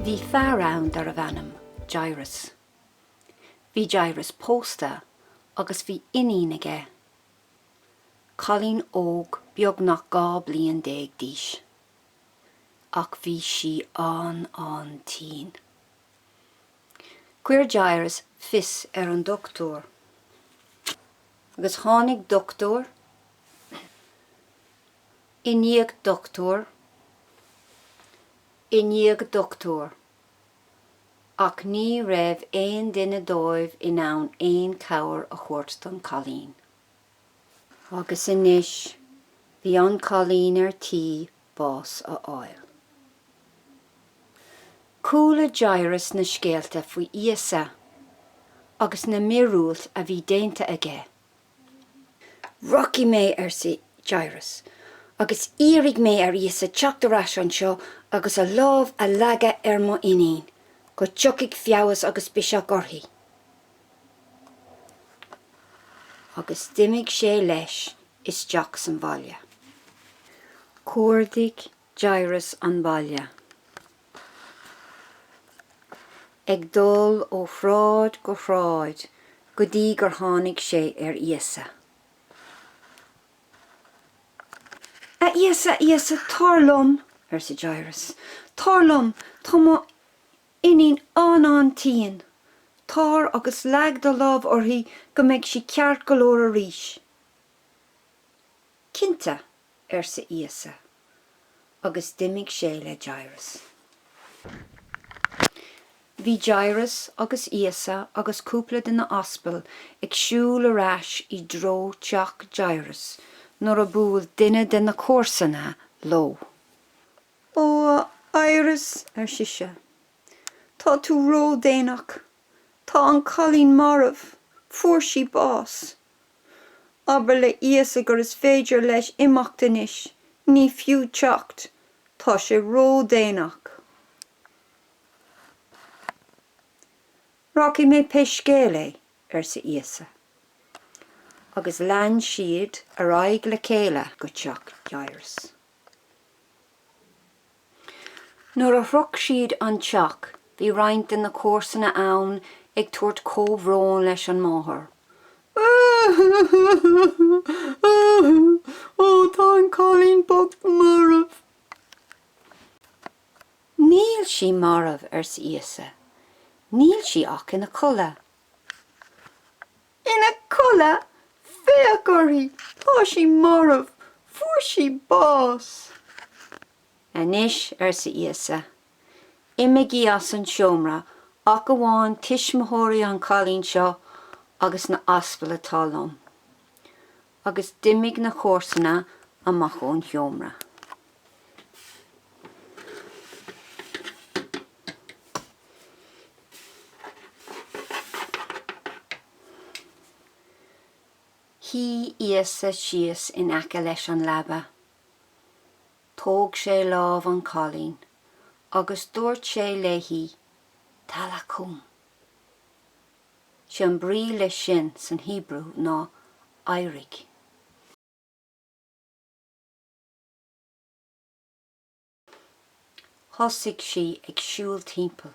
Bhí fear ann darbh ainm Jairus. Bhí Jairus pósta agus bhí iníon aige. cailín óg beagnach 12 bliain d'aois, ach bhí sí an-an-tinn. Chuir Jairus fios ar an dochtúir, agus tháinig dochtúir i ndiaidh dochtúir i ndiaidh dochtúir. ach ní raibh aon duine dóibh in ann aon chabhair a thabhairt don chailín. Agus anois bhí an cailín ar tí bás a fháil. Chuala Jairus na scéalta faoi Íosa agus na míorúiltí a bhí déanta aige. Rachaidh mé, arsa Jairus, agus iarrfaidh mé ar Íosa teacht ar ais anseo agus a lámh a leagadh ar m'iníon, go dtiocfaidh feabhas agus biseach uirthi. Agus d'imigh sé leis isteach sa bhaile. Cuardaigh Jairus an baile ag dul ó shráid go shráid go dtí gur tháinig sé ar Íosa. A Íosa, a Íosa, tar liom! arsa Jairus. Tar liom! Tá mo iníon an-an tinn! Tar agus leag do lámh uirthi go mbeidh sí ceart go leor arís. Cinnte, arsa Íosa, agus d'imigh sé le Jairus. Bhí Jairus agus Íosa agus cúpla de na h-aspail ag siúl ar ais i dtreo teach Jairus nuair a bhuail duine de na comharsana leo. Ó a Jairus, ar sise, tá tú ró-déanach, tá an cailín marbh, fuair sí bás, Abair le Íosa gur is féidir leis imeacht anois, ní fiú teacht, tá sé ródhéanach. Rachaidh mé pé scéal é, arsa Íosa. Agus lean siad ar aghaidh le chéile go teach Jairus. Nuair a shroich siad an teach bhí roinnt de na comharsana ann ag tabhairt comhbhróin leis an máthair. Ó, tá an cailín bocht marbh! Níl sí marbh, arsa Íosa, níl sí ach ina codladh. Ina codladh, féach uirthi, tá sí marbh, fuair sí bás. Anois, arsa Íosa, imigí as an seomra, ach amháin tuismitheoirí an chailín seo agus na h-aspail atá liom. Agus d'imigh na comharsana amach ón sheomra. Shuigh Íosa síos in aice leis an leaba. Thóg sé lámh an chailín agus dúirt sé léi, Talacúm! Sé an brí leis sin san Hebrew ná éirigh. Thosaigh sí ag siúl timpeall.